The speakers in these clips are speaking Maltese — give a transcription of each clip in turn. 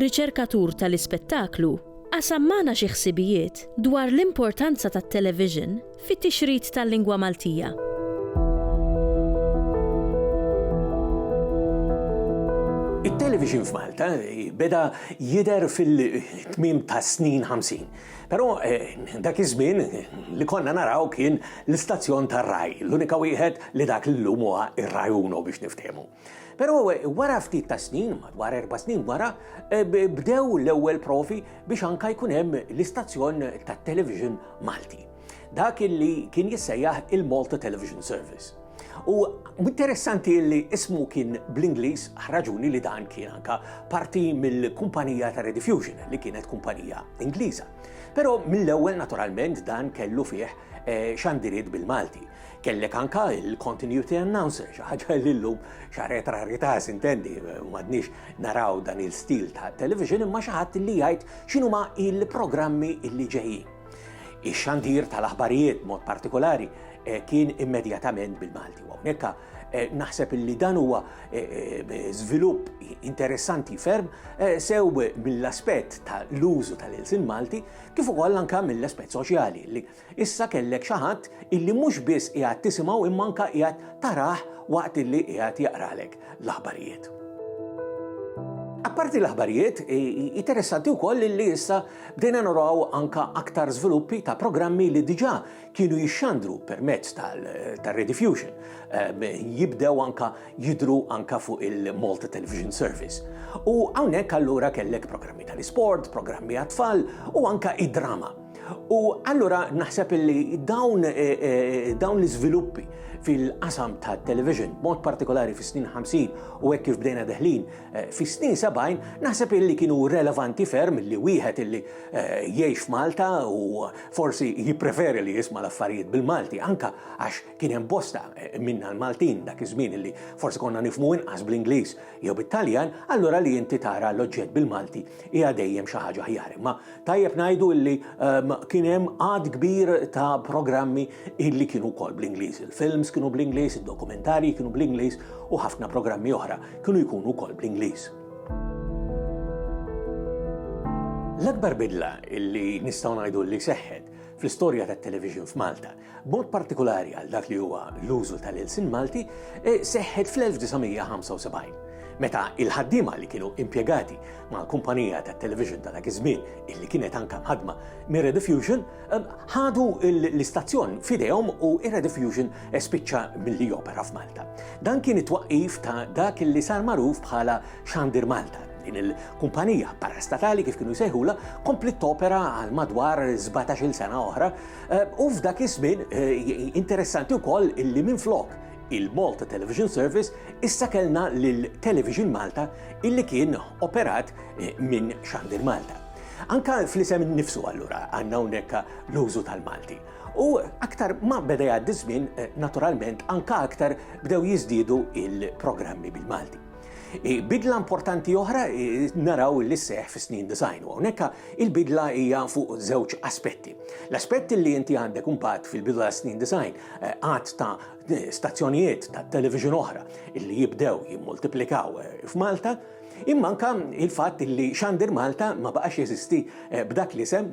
riċerkatur tal-ispettaklu, qasam magħna xi ħsibijiet dwar l-importanza tat-television fit-tixrid tal-lingwa Maltija. It-television f'Malta beda jidher fil-tmiem tas-snin 50. Però dak iż-żmien li konna naraw kien l-istazzjon tar-Rai, l-unika wieħed li dak l-illum huwa r-Rai Uno biex niftehmu. Però wara ftit ta' snin, madwar erba' snin wara, bdew l-ewwel provi biex anka jkun hemm l-istazzjon tat-television Malti. Dak illi kien jissejjaħ il-Malta Television Service. U interessanti li ismu kien bl-Ingliż ħraġuni li dan kien anka parti mill-kumpanija ta' Rediffusion li kienet kumpanija Ingliża. Però mill-ewwel naturalment dan kellu fih eh, xandiriet bil-Malti. Kellek anka il-continuity announcer, xi ħaġa li llum xa retrarita sintendi, m'għadniex naraw dan il-stil ta' television imma xi ħadd li jgħid x'inhuma il-programmi li ġejjin. Ix-xandir tal-aħbarijiet mod partikolari eh, kien immedjatament bil-Malti. Hawnhekk eh, naħseb li dan huwa eh, żvilupp interessanti ferm sew mill-aspett tal-użu tal-ilsin Malti kif ukoll anka mill-aspett soċjali li Issa kellek xi ħadd illi mhux biss qiegħed tisimgħu imma anke qiegħed tarah waqt illi qiegħed jaqralek l-aħbarijiet. Apparti l-aħbarijiet, interessanti wkoll li issa bdejna naraw anka aktar żviluppi ta' programmi li diġà kienu jixxandru permezz tal-Rediffusion. Ehm, jibdew anka jidru anka fuq il-Malta Television Service. U hawnhekk allura kellek programmi tal-isport, programmi għat-tfal u anka id-drama. U allura naħseb li dawn eh, eh, dawn l-iżviluppi fil-qasam ta' television, mod partikolari fis snin 50 u hekk kif bdejna deħlin eh, fis snin 70, naħseb illi kienu relevanti ferm li wieħed illi jgħix f'Malta u forsi jippreferi li jisma' l-affarijiet bil-Malti, anka għax kien hemm bosta minna l-Maltin dak iż-żmien illi forsi konna nifmu inqas bl-Ingliż jew bit-Taljan, allura li inti tara l-oġġett bil-Malti hija dejjem xi ħaġa ħjar. Ma Tajjeb ngħidu illi ehm, kien hemm għad kbir ta' programmi illi kienu wkoll bl-Ingliż. Il-films kienu bl-Ingliż, id-dokumentarji kienu bl-Ingliż u ħafna programmi oħra kienu jkunu wkoll bl-Ingliż. L-akbar bidla illi nistgħu ngħidu li seħħet fl-istorja tat-television f'Malta B'mod partikulari għal dak li huwa l-użu tal-ilsien Malti, e, seħħet fl-1975, meta il-ħaddiema li kienu impjegati ma' kumpanija ta' television ta' dak iż-żmien illi kienet anka mħadma mir Rediffusion e, ħadu l-istazzjon f'idejhom u ir-Rediffusion e, spiċċa milli jopera f'Malta. Dan kien it-twaqqif ta' dak illi sar magħruf bħala Xandir Malta Din il-kumpanija parastatali kif kienu jsejħula kompli topera għal madwar 17-il sena oħra U f'dak iż-żmien interessanti wkoll illi minflok il-Malta Television Service issa kellna lil Television Malta illi kien operat eh, minn Xandir Malta. Anka fl-isem nifsu allura għandna hawnhekk l-użu tal-Malti. U aktar ma beda jgħaddi żmien eh, naturalment anka aktar bdew jiżdiedu il-programmi bil-Malti. Bidla importanti oħra naraw li seħ fi snin design u hawnhekk il-bidla hija fuq żewġ aspetti. L-aspett li inti għandek imbagħad fil-bidla snin design eh, għad ta' stazzjonijiet ta' television oħra li jibdew jimmultiplikaw eh, f'Malta, imma anka il-fatt li Xandir Malta ma baqax jeżisti eh, b'dak l-isem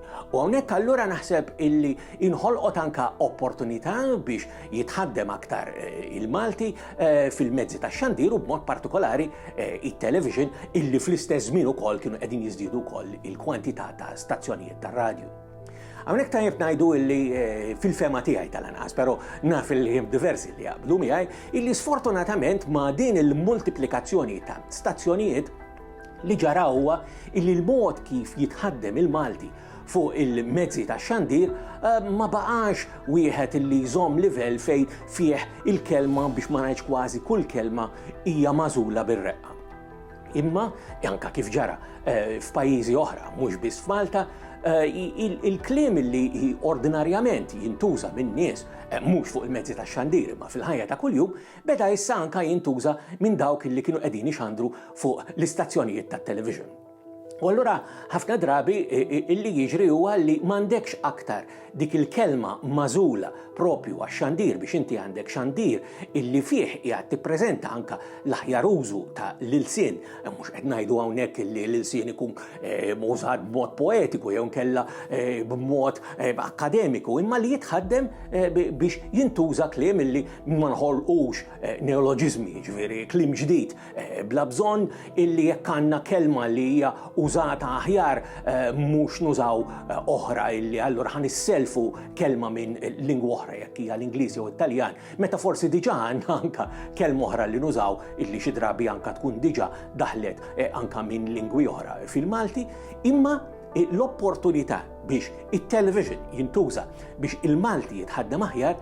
U hawnhekk allura naħseb illi inħolqot anka opportunità biex jitħaddem aktar eh, il-Malti eh, fil-mezzi ta' xandir u b'mod partikolari eh, il-television illi fl-istess żmien ukoll kienu qegħdin jiżdiedu wkoll il-kwantità ta' stazzjonijiet ta' radju. Għamnek tajjeb najdu illi fil-fema tiegħi tal-anqas, pero naf il-ħim diversi li jaqblu miegħi, illi sfortunatament ma' din il-multiplikazzjoni ta' stazzjonijiet Li ġara huwa illi l-mod kif jitħaddem il-Malti fuq il-mezzi tax-xandir ma baqax wieħed illi jżomm livell fejn fih il-kelma biex ma ngħidx kważi kull kelma hija magħżula bir-reqqa. Imma, anka kif ġara eh, f'pajjiżi oħra, mhux biss f'Malta, eh, il-kliem li ordinarjament jintuża minn nies eh, mhux fuq il-mezzi tax-xandir imma fil-ħajja ta' kuljum beda issa anke jintuża minn dawk li kienu qegħdin ixandru fuq l-istazzjonijiet tat-television. U allura ħafna drabi illi jiġri huwa li m'għandekx aktar dik il-kelma magħżula propju għax-xandir biex inti għandek xandir illi fih qiegħed tippreżenta anke l-aħjar użu ta' l-ilsien. Eh, mhux qed ngħidu hawnhekk illi l-ilsien ikun eh, użat b'mod poetiku jew nkella eh, b'mod akkademiku, imma li jitħaddem biex jintuża kliem illi ma nħolqux eh, neoloġizmi, ġviri, klim ġdid, eh, bla bżonn illi jekk għandna kelma li hija użata aħjar eh, mhux nużaw oħra illi allura ħan isselfu kelma minn lingwa oħra jekk hija l-Ingliż jew Italjan, meta forsi diġà għandna anka kelma oħra li nużaw illi xi drabi anka tkun diġà daħlet anka minn lingwi oħra fil-Malti, imma l-opportunità biex it-television jintuża biex il-Malti jitħaddem aħjar